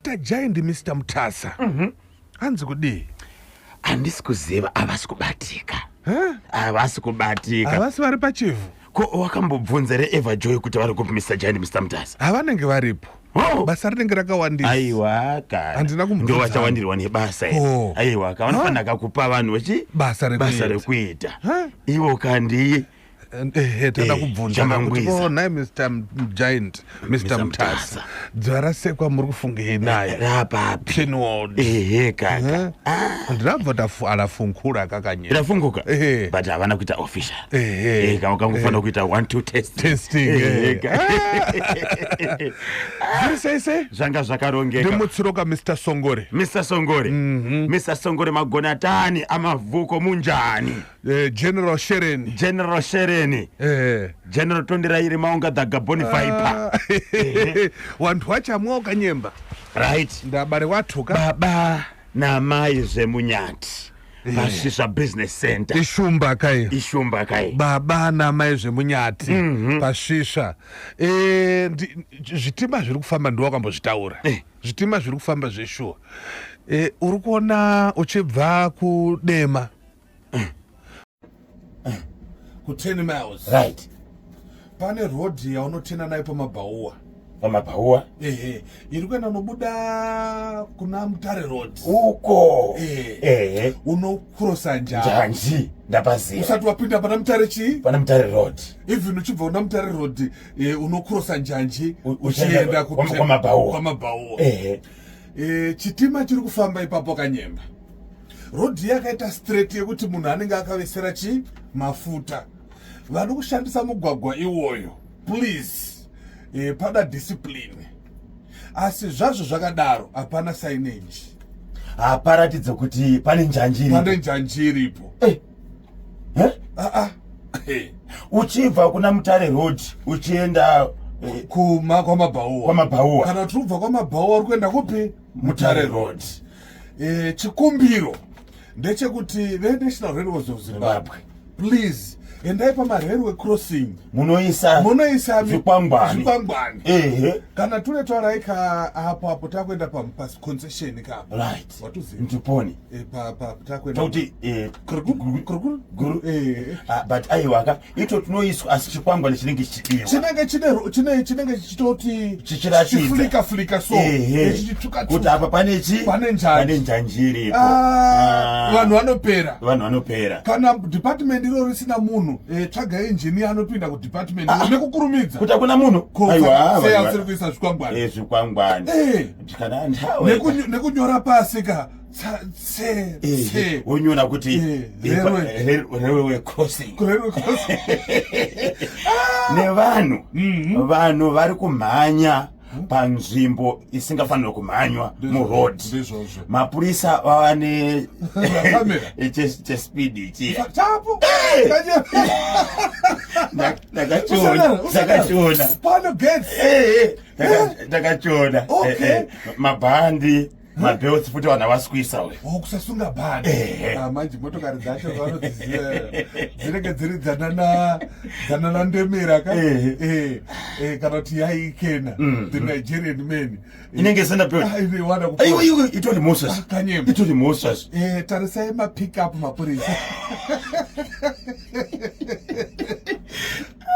Tajai ndi Mister Mutasa. Mhm. Hanzi kudii? Handisi kuziva havasi kubatika. Huh? Havasi kubatika. Havasi vari pachivhu. Ko wakambobvunza re Eva Joy kuti vari kupi Mister Tajai ndi Mister Mutasa? Havanenge varipo. Oh. Basa rinenge rakawandisa. Aiwa ka. Handina kumbudza. Ndio vachawandirwa nebasa iri. Oh. Aiwa ka vanofanira huh? kakupa vanhu vechi basa rekuita. Basa rekuita. Huh? Ivo ka ndiye. ehe eh, tanda eh, kubvunza kuti oh, nai mr giant mr mtasa dzuva rasekwa muri kufungei naye rapapi pinwald ehe kaka ndinabva taala funkura kakanyera rafunguka ehe but havana kuita official ehe kama kangofanira kuita one two test testing ehe zviri sei sei zvanga zvakarongeka ndimutsiroka mr songore mr songore mr mhm. songore magonatani amavuko munjani Eh, general shereni general shereni eh. general tondirairi maunga dhaga boni viper ah. eh. wanhu wachamwa ukanyemba right ndabare watuka baba namai zvemunyati pasvisa eh. business center ishumba kai ishumba kai baba namai zvemunyati mhm. pasvisa eh, zvitima zviri kufamba ndiwa kambozvitaura zvitima zviri kufamba zveshuwa uri kuona uchibva kudema ku 10 miles right pane road yaunotena nayo pamabhauwa pamabhauwa ehe iri kuenda unobuda kuna mutare road uko ehe unokrosa njanji ndapaziva usati wapinda pana mutare chii pana mutare road even uchibva una mutare road e, unokrosa njanji uchienda kwamabhauwa ehe e, chitima chiri kufamba ipapo kanyemba rodhi yakaita straight yekuti munhu anenge akavesera chii mafuta vano kushandisa mugwagwa iwoyo please e, pada discipline asi zvazvo zvakadaro hapana signage haparatidze kuti pane njanji pane njanji iripo eh. eh? ah, ah. eh. uchibva kuna mutare road uchienda eh. kuma kwamabhauwa kwamabhauwa kana tiri kubva kwamabhauwa uri kuenda kupi mutare road e, chikumbiro ndechekuti venational railways of zimbabwe please endai pamarailway crossing munoisa munoisa zvikwangwani ehe kana tune twarai ka apo apo takuenda paconcession ka right ndiponi e, takuenda kuti e, eh, eh. ah, but aiwaka ito tinoiswa asi chikwangwani chinenge chichidiwa chinenge chine chinenge chichitoti chichirachifulika fulika so kuti apa pane chi pane njani njanji iripo ah, ah. vanhu vanopera vanhu vanopera kana department iro risina munhu eh, tsvaga injini anopinda kudepartment ah. nekukurumidza kuti hakuna munhu aiwaasiri kuisa zvikwangwani eh, zvikwangwani eh. nekunyora pasi ka onyona kuti eh, eh, railway crossing nevanhu mm-hmm. vanhu vari kumhanya hmm? panzvimbo isingafanira kumhanywa muroad mapurisa vava nechespeed ichi ndakachiona ndakachiona mabhandi mabelts futi vanhu havasi kuisa uyu oh, kusasunga bhani eh. ah, manje motokari dzacho vanodziziva dzinenge dziri dzanana dzanana ndemera ka eh. Eh, kana kuti yaikena mm. the nigerian man inenge isina beltitori ah, moses itori ah, moses tarisai mapickup mapurisa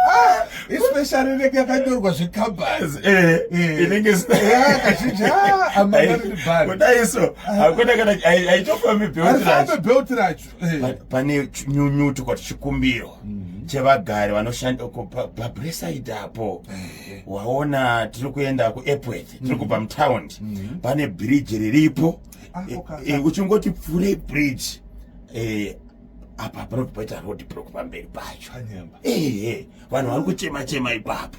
Ah, especially inenge yakanyorwa zvekambas eh, eh. inenge kazhinji ah, amaaakudai so hakuna kana haitofambi belt racho eh. pane nyunyutuko tichikumbirwa mhm. chevagari vanoshanda uko pabresaid apo waona tiri kuenda kuepworth tiri mhm. kubva mutaundi mhm. pane bridge riripo ah, uchingoti pfurei bridge apa panobva paita road block pamberi pacho ehe vanhu vari kuchema chema ipapo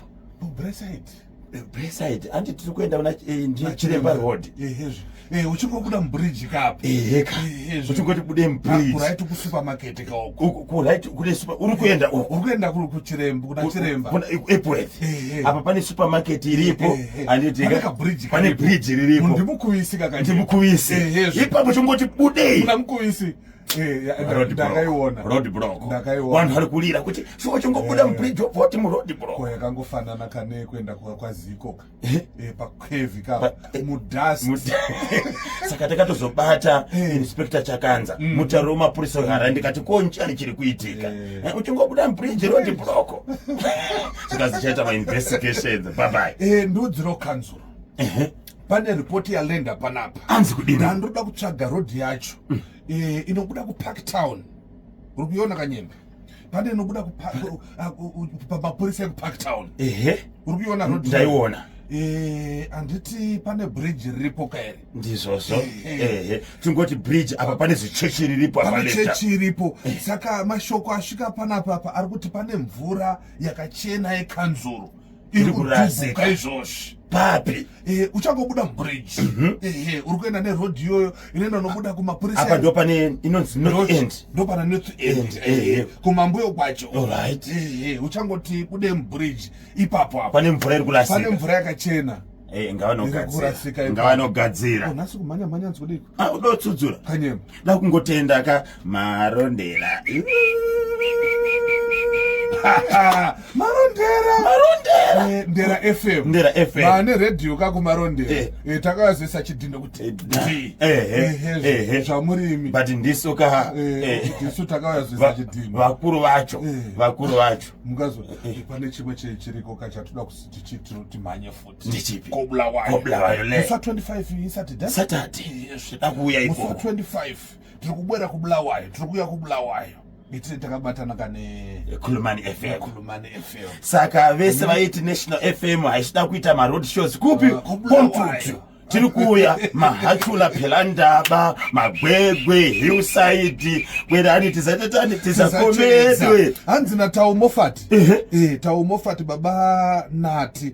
breside andi tiri kuenda kuna eh, ndichiremba road eh, uchingobuda mubridge kapo uchingoti bude mubridgeuright kusupermarket kaokouright kune super uri kuenda uko uri kuenda kuchiremba kuna chiremba kuna epworth apa pane supermarket iripo andidika bridge pane bridge riripo ndimukuvisi kakati ndimukuvisi ipapo chingoti budei kuna mukuvisi Eh, vanhu vari kurira kuti shuwa chingobuda eh. mubridge wopoti muroad bro yakangofanana kane kuenda kwaziko eh? pakwevi ka mudust saka takatozobata inspector chakanza mm. mutaro wemapurisa wehara ndikati ko nchani chiri kuitika uchingobuda mubridge road broko zvikazichaita mainvestigations babai ndudziro kanzuro pane report yalenda panapa anzi kudini ndandoda kutsvaga road yacho mm. e, inobuda kupark town uri kuiona kanyemba pane inobuda pamapurisa uh, ekupark town ehe uri kuiona road ndaiona Eh, handiti pane bridge riripo kaere ndizvozvo ehe tingoti bridge apa pane zichechi riripo apachechi iripo eh. saka mashoko asvika panapapa ari kuti pane mvura yakachena yekanzuru iri kurasika izvozvi papi eh, uchangobuda mubridge mhm. ehe uri kuenda neroad iyoyo inoenda unobuda kumapurisa apa ndo pane inonzi north end ndo pana north end ehe kumambuyo kwacho alright ehe uchangoti bude mubridge ipapo apa pane mvura iri kurasika pane mvura yakachena eh, ngavanogadzira ngavanogadzira oh, nhasi kumhanya mhanya nzikudii akudotsudzura kanyema dakungotenda ka marondera marondera marondera eh, ndera fm ndera fm vane radio kako marondera eh. eh, takavazivisa chidhindo kuti zvamurimi but ndisu ka ndisu takavazivisa chidhindo vakuru vacho vakuru vacho mukazopane chimwe chiriko ka chatoda kuti timhanye futi ndechipi ko bulawayo ko bulawayo le musi wa 25 isaturday saturday yes da kuuya iko musi wa 25 tiri kubwera ku bulawayo tiri kuuya ku bulawayo itire takabatana kane khulumani fm khulumani fm saka vese vaiti national fm haisida kuita ma road shows kupi uh, kontutu tiri kuuya mahachula phela ndaba magwegwe hillside kwerani tizatotani tizakomedwe hanzi na taumofati uh -huh. e, eh, taumofati baba nati